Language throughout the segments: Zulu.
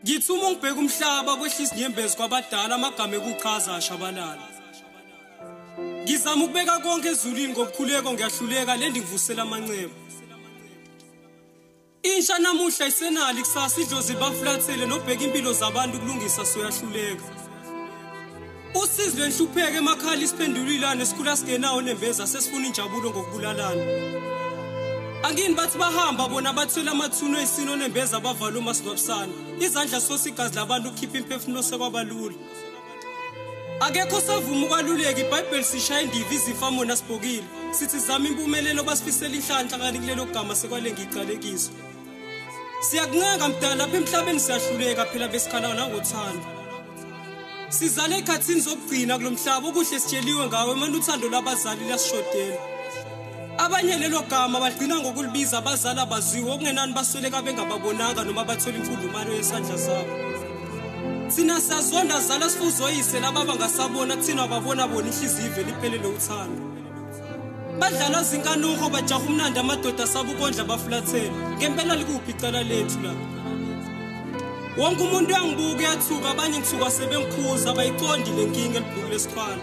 ngithi uma ngibheka umhlaba kwehlisa inyembezi kwabadala amagama ekuqhaza ashabalala ngizama ukubeka konke ezulwini ngokukhuleko ngiyahluleka le ndingivusela amanxeba Insha namuhla isenali kusasa idlozi baflathele nobheka impilo zabantu kulungisa soyahluleka. Usizi lwenhlupheke emakhala isiphendulilane sikhula singenawo nembeza sesifuna injabulo ngokubulalana. Angini bathi bahamba bona bathwele amathuno esino nembeza bavala uma sigwabisana. Izandla sosigazi labantu kukhipha imphefumulo sekwabalula. akekho savuma ukwaluleka ibhayibheli sishaya indiva izifa mona sibhokile sithi zama impumelelo basifisela inhlanhla kanti kulelo gama sekwale ngicalekiso siyakuncenga mdala lapha emhlabeni siyahluleka phela besikhala nangothando sizale ekhathini zokugcina kulo mhlaba okuhle sitsheliwe ngawo emane uthando lwabazali liyasishodela abanye lelo gama bagcina ngokulibiza abazali abaziwe okungenani basweleka bengababonanga noma bathola imfundumalo yesandla sabo thina siyazonda zala sifuzoyise lababa ngasabona kuthina babona bona ihliziyo ivele iphelele uthando badlala zinkanuho bajaha umnandi amadoda asaba ukondla bafulathela ngempela likuphi icala lethu la wonke umuntu uyangibuka uyathuka abanye ngithuka sebengikhuza abayiqondi le nkinga elibhukule esikhwana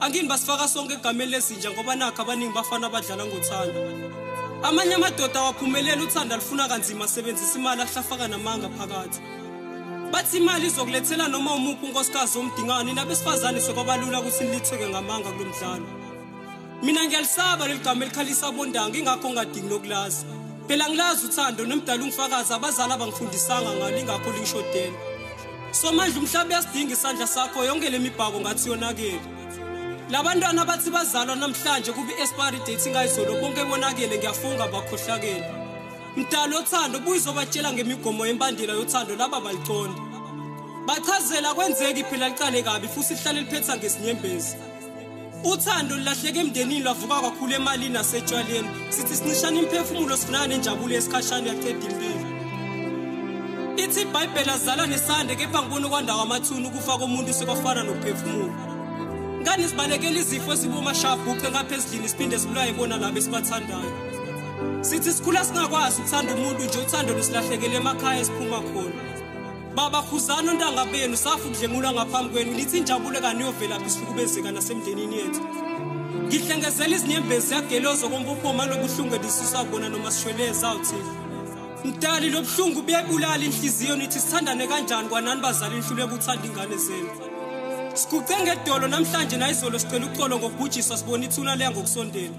angini basifaka sonke egameni lezinja ngoba nakho abaningi bafana abadlala ngothando amanye amadoda awaphumeleli uthanda lufuna kanzima asebenzisa imali ahlafaka namanga phakathi bathi imali izokulethela noma umuphi unkosikazi omdingani nabesifazane sekwabalula ukuthi nilitheke ngamanga kulo mdlalo mina ngiyalisaba leli gama elikhalisa abondanga ingakho ngingadingi nokulazi phela ngilazi uthando nomdala ungifakazi abazali abangifundisanga ngalo ingakho lingishodela somandla umhlaba uyasidinga isandla sakho yonke le mibhako ngathi yonakele labantwana abathi bazalwa namhlanje kubi expiry date ingayizolo konke bonakele ngiyafunga bakhohlakele mdala othando buyizobatshela ngemigomo yembandela yothando laba baliconda bachazela kwenzeki phela liqale kabi futhi lihlale liphetha ngesinyembezi uthando lilahleke emndenini lwavuka kakhulu emalini nasetshwaleni sithi sincishana imphefumulo sifunana nenjabulo yesikhashana yaqeda impilo ithi ibhayibheli azala nesande kepha ngibona okwandawo amathuni ukufa komuntu sekwafana nokuphefumula ngani sibalekela izifo ezibomashabhuqe ngapha ezidlini siphinde sibulaye bona labo esibathandayo sithi sikhula singakwazi ukuthanda umuntu nje uthando lusilahlekele emakhaya esiphuma khona Baba khuzana ontanga benu safu kudlengulwa ngaphambi kwenu lithi injabulo kaniyovelaphi sihlukubezeka nasemndenini yethu ngihlengezela izinyembezi yagelozo kombuphoma lobuhlungu elisusa kona noma sishweleza uthi mdali lobuhlungu buyayibulala inhliziyo nithi sithandane kanjani kwanani bazali nihlule kuthanda ingane zenu siguqe ngedolo namhlanje nayizolo sicela uxolo ngokubhujiswa sibona ithuna leya ngokusondela